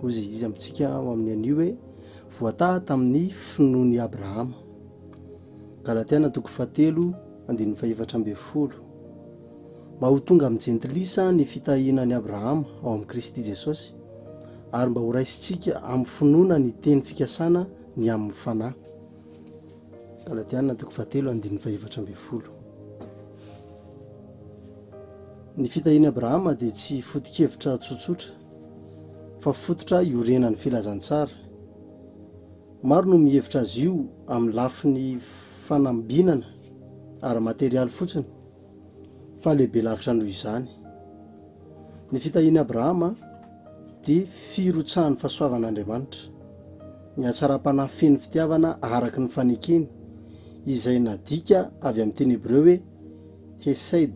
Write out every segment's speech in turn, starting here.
Hoy izay izy amintsika ao amin'ny anio hoe, voataha tamin'ny finoan'i Abrahama. Galatiana toko fahatelo, andininy fahefatra ambin'ny folo. Mba ho tonga amin'ny jentilisa ny fitahiana an'i Abrahama ao amin'i Kristy Jesosy, ary mba horaisintsika amin'ny finoana ny teny fikasana ny amin'ny fanahy. Galatiana toko fahatelo andininy fahefatra ambin'ny folo. Ny fitahian'i Abrahama dia tsy foto-kevitra tsotsotra, fa fototra iorenan'ny filazantsara. Maro no mihevitra azy io amin'ny lafiny fanambinana ara-materialy fotsiny, fa lehibe lavitra noho izany. Ny fitahian'i Abrahama dia firotsahan'ny fahasoavan'Andriamanitra, ny hatsaram-panahy feno fitiavana araka ny fanekeny, izay nadika avy amin'ny teny hebreo hoe hesed.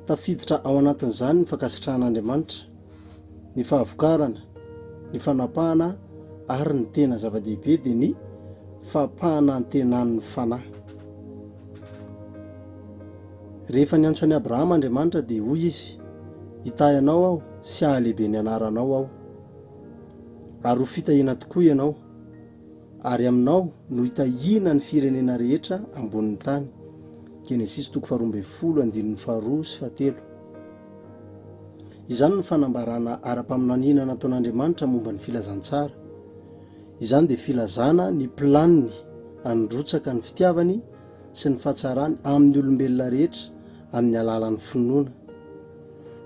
Tafiditra ao anatin'izany ny fankasitrahan'Andriamanitra ny fahavokarana, ny fanapahana ary ny tena zava-dehibe dia ny fampanantenan'ny fanahy. Rehefa niantso an'i Abrahama Andriamanitra dia hoy Izy, Hitahy anao aho sy hahalehibe ny anaranao aho, ary ho fitahiana tokoa ianao, ary aminao no hitahiana ny firenena rehetra ambonin'ny tany. Genesisy toko faharoa ambin'ny folo, andininy faharoa sy fahatelo. Izany no fanambarana ara-paminaniana nataon'Andriamanitra momba ny filazantsara. Izany dia filazana ny planiny handrotsaka ny fitiavany sy ny fahatsarany amin'ny olombelona rehetra amin'ny alalan'ny finoana.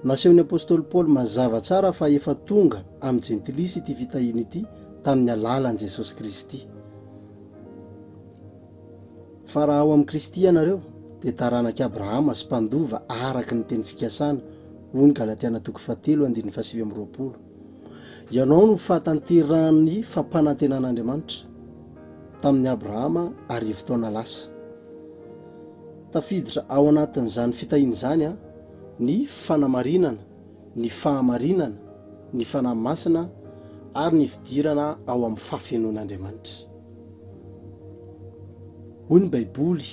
Nasehon'ny apostoly Paoly mazava tsara fa efa tonga amin'ny Jentilisa ity fitahiana ity tamin'ny alalan'i Jesosy Kristy. Fa raha ao amin'i Kristy ianareo, dia taranak'i Abrahama sy mpandova araka ny teny fikasana, hoy ny Galatiana toko fahatelo andininy fahasivy amby roapolo. Ianao no fahatanterahan'ny fampanantenan'Andriamanitra tamin'i Abrahama arivo taona lasa. Tafiditra ao anatin'izany fitahiana izany ny fanamarinana. ny fahamarinana, ny Fanahy Masina ary ny fidirana ao amin'ny fahafenoan'Andriamanitra. Hoy ny Baiboly,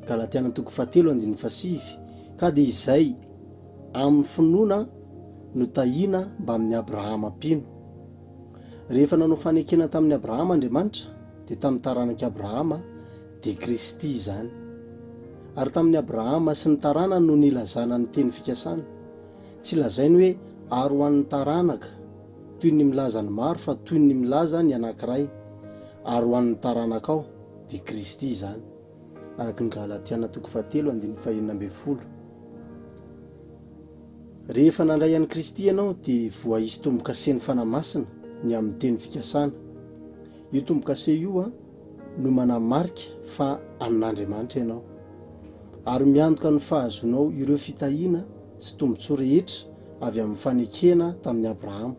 Galatiana toko fahatelo andininy fahasivy, Ka dia izay amin'ny finoana no tahiana mbamin'i Abrahama mpino. Rehefa nanao fanekena tamin'i Abrahama Andriamanitra, dia tamin'ny taranak'i Abrahama dia Kristy izany. Ary tamin'i Abrahama sy ny taranany no nilazana ny teny fikasana. Tsy lazainy hoe ary ho an'ny taranaka, toy ny milaza ny maro fa toy ny milaza ny anankiray, ary ho an'ny taranakao, dia Kristy izany. Araka ny Galatiana toko fahatelo andininy fahenina ambin'ny folo. Rehefa nandray an'i Kristy ianao dia voaisy tombo-kasen'ny Fanahy Masina ny amin'ny teny fikasana. Io tombo-kase io a. no manamarika fa an'Andriamanitra ianao, ary miantoka ny fahazoanao ireo fitahiana sy tombontsoa rehetra avy amin'ny fanekena tamin'i Abrahama.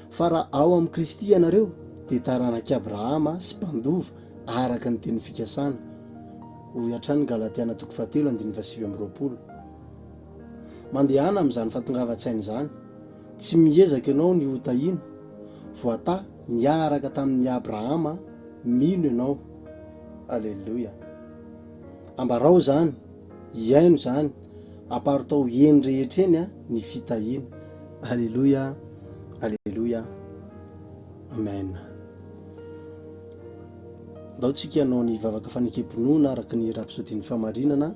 Fa raha ao amin'i Kristy ianareo, dia taranak'i Abrahama sy mpandova araka ny tenin'ny fikasana, hoy hatrany Galatiana toko fahatelo andininy fahasivy amby roapolo. Mandehana amin'izany fahatongavan-tsaina izany. Tsy miezaka ianao ny ho tahiana, voatahy niaraka tamin'i Abrahama, mino ianao. Aleloia. Ambarao izany, hiaino izany, aparitao eny rehetra eny ny fitahiana. Aleloia, aleloia, amen. Andao tsika hanao ny vavaka fanekempinoana araka ny rapsodin'ny fahamarinana.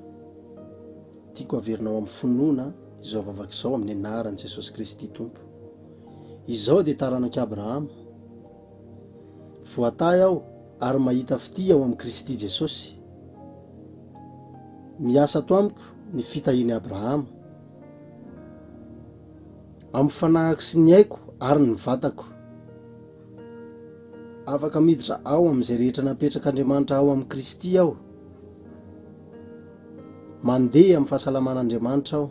Tiako haverina ao amin'ny finoana izao vavaka izao amin'ny anaran'i Jesosy Kristy Tompo. Izaho dia taranak'i Abrahama. Voatahy aho ary mahita fitia ao amin'i Kristy Jesosy. Miasa ato amiko ny fitahian'i Abrahama. Amin'ny fanahiko sy ny aiko ary ny vatako. Afaka miditra ao amin'izay rehetra napetrak'Andriamanitra ao amin'i Kristy aho. Mandeha amin'ny fahasalaman'Andriamanitra aho,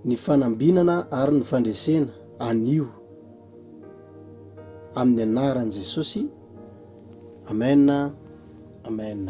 ny fanambinana ary ny fandresena. Anio. Amin'ny anaran'i Jesosy. Amen. Amen.